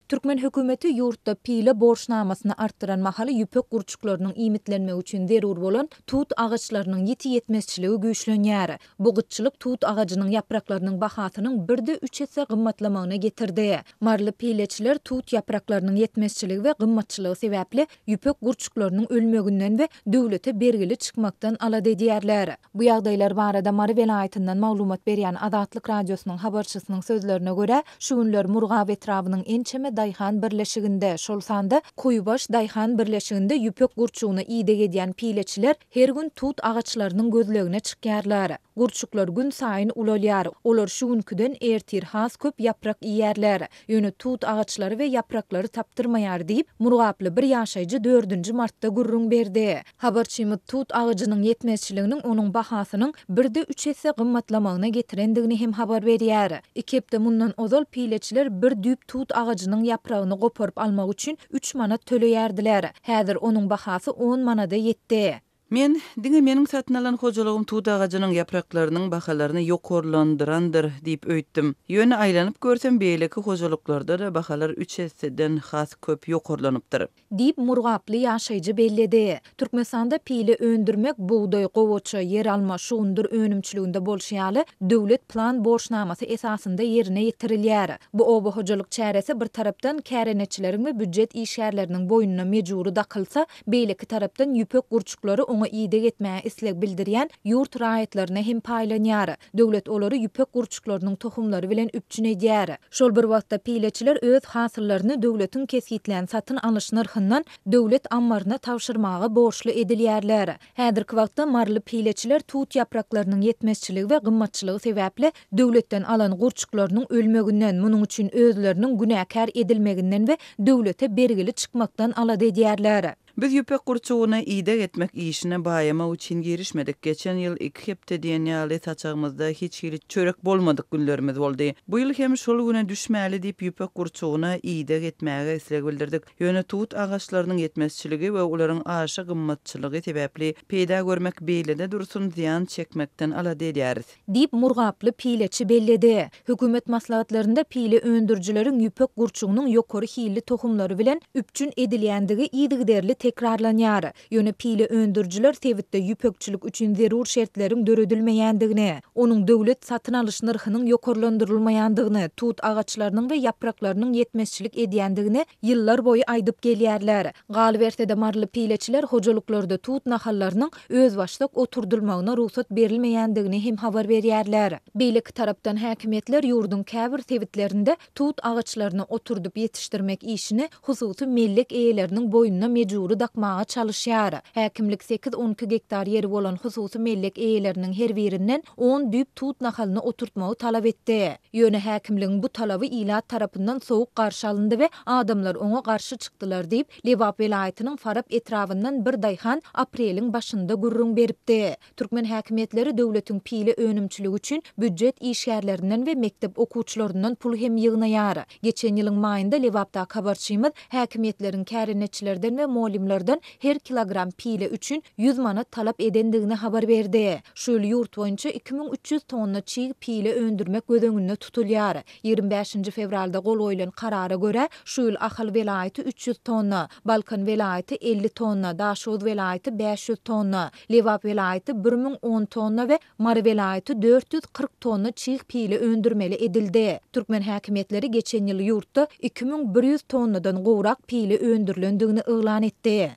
Türkmen hökümeti ýurtda pile borçnamasyny artdyran mahaly ýüpek gurçuklarynyň iýmitlenmegi üçin zerur bolan tut agaçlarynyň ýiti ýetmezçiligi güýçlenýär. Bu gytçylyk tut agajynyň ýapraklarynyň bahasynyň birde üç esse gymmatlamagyna getirdi. Maryly pileçiler tut ýapraklarynyň ýetmezçiligi we gymmatçylygy sebäpli ýüpek gurçuklarynyň ölmeginden we döwlete bergili çykmakdan alada edýärler. Bu ýagdaýlar barada Mary welaýatyndan maglumat berýän Azatlyk Radiosynyň habarçysynyň sözlerine görä, şu günler Murgap etrabynyň ençeme daýhan birleşiginde, şol sanda Kuýbaş daýhan birleşiginde ýüpek gurçugyna ideg edýän pileçiler her gün tut agaçlarynyň gözlegine çykýarlar. Gurçuklar günsaýyn ulalýar, olar şu günküden ertir has köp ýaprak iýýärler. Ýöne tut agaçlary we ýapraklary tapdyrmaýar diýip, murgaply bir ýaşaýjy dördünji martda gürrüň berdi. Habarçymyz tut agajynyň ýetmezçiliginiň onuň bahasynyň birde üç esse gymmatlamagyna getirendigini hem habar berýär. Iki hepde mundan ozal pileçiler bir düýp tut agajynyň ýapragyny goparyp almak üçin üç manat töleýärdiler. Häzir onuň bahasy on manada ýetdi. Men, Diňe meniň satyn alan hojalygym tut agajynyň ýapraklarynyň bahalaryny ýokarlandyrandyr diýip öýtdüm. Ýöne aýlanyp görsem, beýleki hojalyklarda-da bahalar üç esseden has köp ýokarlanypdyr. Diýip, murgaply ýaşaýjy belledi. Türkmenistanda pile öndürmek bugdaý, gowaça, ýeralma, şugundyr önümçiliginde bolşy ýaly, döwlet plan borçnamasy esasynda ýerine ýetirilýär. Bu oba hojalyk çäresi bir tarapdan kärendeçileriň we býujet işgärleriniň boýnuna mejbury dakylsa, Beýleki tarapdan ýüpek gurçuklary oňa ideg etmäge isleg bildirýän ýurt raýatlaryna hem paýlanýar. Döwlet olary ýüpek gurçuklarynyň tohumlary bilen üpjün edýär. Şol bir wagtda pileçiler öz hasyllaryny döwletiň kesgitlän satyn alyş nyrhyndan döwlet ammaryna tabşyrmaga borçly edilýärler. Häzirki wagtda maryly pileçiler tut ýapraklarynyň ýetmezçiligi we gymmatçylygy sebäpli döwletden alan gurçuklarynyň ölmeginden, munuň üçin özleriniň günäkär edilmeginden we döwlete bergili çykmakdan alada edýärler. Biz ýüpek gurçugyny ideg etmek işine baýamak üçin girişmedik. Geçen ýyl iki hepde diýen ýaly saçagymyzda hiç hili çörek bolmadyk günlerimiz boldy. Bu ýyl hem şol güne düşmäli diýip ýüpek gurçugyna ideg etmäge isleg bildirdik. Ýöne tut agaçlarynyň ýetmezçiligi we olaryň aşa gymmatçylygy sebäpli peýda görmek beýlede dursun, zyýan çekmekden alada edýäris. Diýip, murgaply pileçi belledi. Hökümet maslahatlarynda pile öndürijileriň ýüpek gurçugynyň ýokary hilli tohumlary bilen üpjün edilýändigi yzygiderli tekrarlanýar. Ýöne pile öndürijiler sebitde ýüpekçilik üçin zerur şertleriň döredilmeýändigini, onuň döwlet satyn alyş nyrhynyň ýokarlandyrylmaýandygyny, tut agaçlarynyň we ýapraklarynyň ýetmezçilik edýändigini ýyllar boýy aýdyp gelýärler. Galyberse-de, maryly pileçiler hojalyklarda tut nahallarynyň özbaşdak oturdylmagyna rugsat berilmeýändigini hem habar berýärler. Beýleki tarapdan häkimiýetler ýurduň käbir sebitlerinde tut agaçlaryny oturdyp ýetişdirmek işini hususy mellek eýeleriniň boýnuna mejbury dakmaga çalyşýar. Häkimlik sekiz-on iki gektar ýeri bolan hususy mellek eýeleriniň her birinden on düýp tut nahalyny oturtmagy talap etdi. Ýöne häkimligiň bu talaby ilat tarapyndan sowuk garşy alyndy we adamlar oňa garşy çykdylar diýip, Lebap welaýatynyň Farap etrabyndan bir daýhan apreliň başynda gürrüň beripdi. Türkmen häkimiýetleri döwletiň pile önümçiligi üçin býujet işgärlerinden we mekdep okuwçylaryndan pul hem ýygnaýar. Geçen ýylyň maýynda Lebapdaky habarçymyz häkimiýetleriň kärendeçilerden we mollimlerden her kilogram pile üçin ýüz manat talap edendigini habar berdi. Şu ýyl ýurt boýunça iki müň üç ýüz tonna çig pile öndürmek göz öňünde tutulýar. Ýigrimi bäşinji fewralda gol goýlan karara görä, şu ýyl Ahal welaýaty üç ýüz tonna, Balkan welaýaty elli tonna, Daşoguz welaýaty bäş ýüz tonna, Lebap welaýaty bir müň on tonna we Mary welaýaty dört ýüz kyrk tonna çig pile öndürmeli edildi. Türkmen häkimiýetleri geçen ýyl ýurtda iki müň bir ýüz tonnadan gowrak pile öndürilendigini yglan etdi.